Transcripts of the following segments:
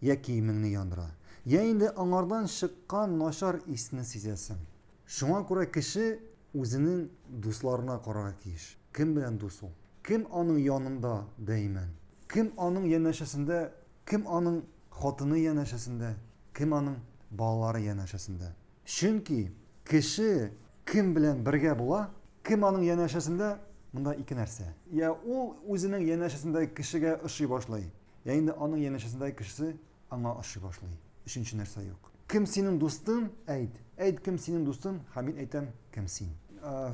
Йә киемеңне яндыра, йә инде аңардан чыккан начар исне сизәсең. Шуңа күрә кеше үзенең дусларына карарга тиеш. Кем белән дус ул? Кем аның янында даимән? Кем аның янәшәсендә, кем аның хатыны янәшәсендә, кем аның балалары янәшәсендә? Чөнки кеше кем белән бергә була, кем аның янәшәсендә, монда ике нәрсә. Йә ул үзенең янәшәсендәге кешегә ошый башлый, Ә инде аның янәшәсендәге кешесе аңа ошый башлый. Өченче нәрсә юк. Кем синең дустың? Әйт. Әйт, кем синең дустың? Һәм мин әйтәм, кем син?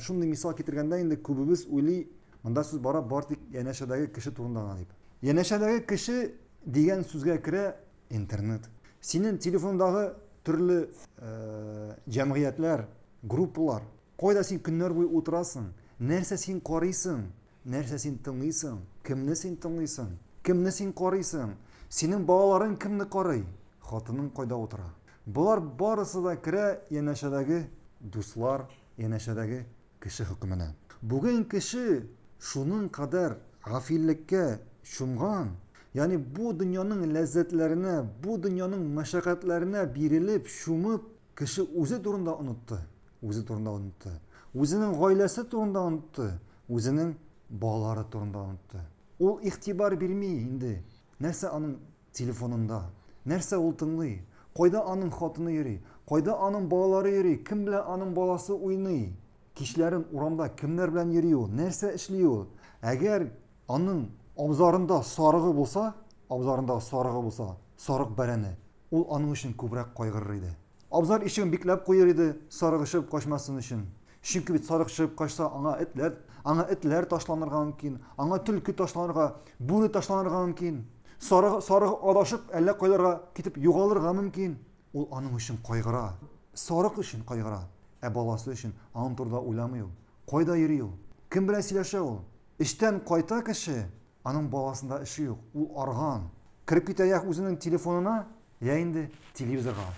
Шундый мисал китергәндә инде күбебез уйлый, монда сүз бара бар тик янәшәдәге кеше турында гына дип. Янәшәдәге кеше дигән сүзгә керә интернет. Синең телефондагы төрле э, җәмгыятьләр, группалар, кайда син көннәр буе утырасың, нәрсә син карыйсың, Нәрсә син тыңлыйсың? Кемне син тыңлыйсың? Кемне син карыйсың? Синең балаларың кемне карый? Хатының кайда утыра? Болар барысы да керә янәшәдәге дуслар, янәшәдәге кеше хөкеменә. Бүген кеше шуның кадәр гафиллеккә чумган, ягъни бу дөньяның ләззәтләренә, бу дөньяның мәшәкатьләренә бирелеп, чумып, Кеше үзе турында онытты, үзе турында онытты. Үзенең гаиләсе турында онытты, үзенең балалары турында онытты. Ул игътибар бирми инде. Нәрсә аның телефонында? Нәрсә ул тыңлый? Кайда аның хатыны йөри? Кайда аның балалары йөри? Кем белән аның баласы уйный? Кичләрен урамда кемнәр белән йөри ул? Нәрсә эшли ул? Әгәр Аның абзарында сарыгы булса, абзарында сарыгы булса, сарык бәрәне, ул аның өчен күбрәк кайгырыр иде. Абзар ишеген бикләп куер иде, сарык чыгып качмасын өчен. Чөнки бит сарык чыгып качса, аңа этләр, аңа этләр ташланырга мөмкин, аңа төлке ташланырга, бүре ташланырга мөмкин. Сарык, сарык адашып, әллә кайларга китеп югалырга мөмкин. Ул аның өчен кайгыра, сарык өчен кайгыра. Ә баласы өчен аның турыда уйламый ул. Кайда йөри ул? Кем белән сөйләшә ул? Эштән кайта кеше, аның баласында эше юк, ул арган. Кереп китә йә үзенең телефонына, йә инде телевизорга.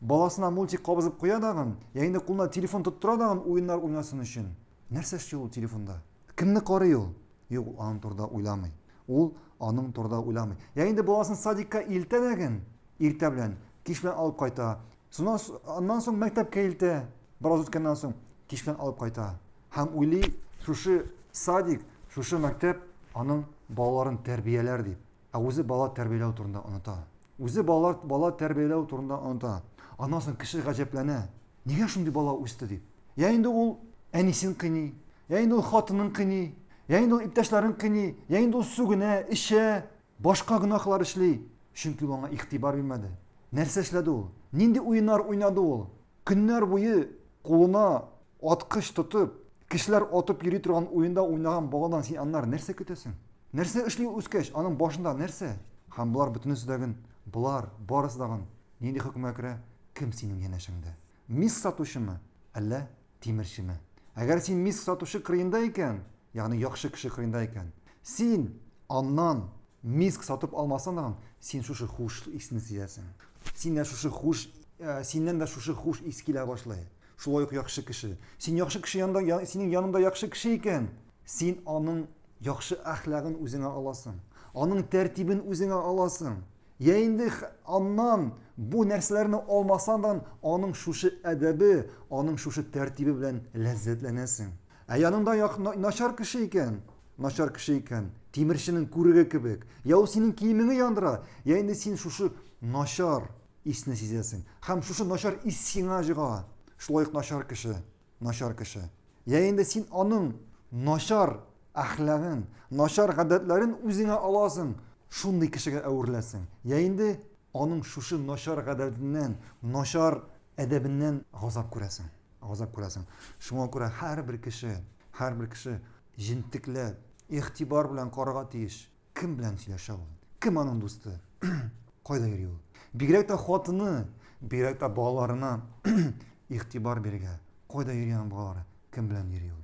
Баласына мультик кабызып куя дагын, йә инде кулына телефон тоттыра дагын уеннар уйнасын өчен. Нәрсә эшли ул телефонда? Кемне карый ул? Юк, ул аның турыда уйламый. Ул аның турыда уйламый. Йә инде баласын садикка илтә дәген, иртә белән, кич белән алып кайта. Аннан соң мәктәпкә илтә, бераз үткәннән соң, кич белән алып кайта. Һәм уйлый, шушы садик, шушы мәктәп аның балаларын тәрбияләр дип. Ә үзе бала тәрбияләү турында оныта. Үзе балалар бала тәрбияләү турында оныта. Аннан соң кеше гаҗәпләнә. Нигә шундый бала үсте дип. Я инде ул әнисен кыйный, я инде ул хатынын кыйный, я инде ул иптәшләрен кыйный, я инде ул сүгенә, эчә. Башка гөнаһлар эшли, чөнки ул аңа игътибар бирмәде. Нәрсә эшләде ул? Нинди уеннар уйнады ул? Көннәр буе кулына аткыч тотып, кешеләр атып йөри торган уенда уйнаган баладан син аннары нәрсә көтәсең? Нәрсә эшли ул үскәч, аның башында нәрсә? Һәм болар бөтенесе дә гын, болар барысы да гын нинди хөкемгә керә? Кем синең янәшәңдә? Мисс сатучымы, әллә Тимерчеме? Әгәр син миск сатучы кырыенда икән, ягъни яхшы кеше кырыенда икән, син аннан миск сатып алмасаң, син шушы хуш исне сизәсең. Син дә шушы хуш, э, синнән дә шушы хуш ис килә башлый. Шулай ук яхшы кеше. Син яхшы кеше янында, я, синең янында яхшы кеше икән, син аның яхшы әхлагын үзеңә аласың. Аның тәртибен үзеңә аласың. Я инде аннан бу нәрсәләрне алмасандан аның шушы әдәбе, аның шушы тәртибе белән ләззәтләнәсең. Ә яныңда начар кеше икән, начар кеше икән, тимерченең күреге кебек, я ул синең киемеңне яндыра, я инде син шушы начар исне сизәсең. Һәм шушы начар ис сиңа җыга. Шулай ук начар кеше. Начар кеше. Йә инде син аның начар әхлагын, начар гадәтләрен үзеңә аласың, шундый кешегә әвереләсең, йә инде аның шушы начар гадәтеннән, начар әдәбеннән газап күрәсең, газап күрәсең. Шуңа күрә һәрбер кеше, һәрбер кеше җентекләп, игътибар белән карарга тиеш. Кем белән сөйләшә ул? Кем аның дусты? Кайда йөри ул? Бигрәк тә хатыны, бигрәк тә балаларына игътибар бирергә. Кайда йөри аның балалары? Кем белән йөри ул?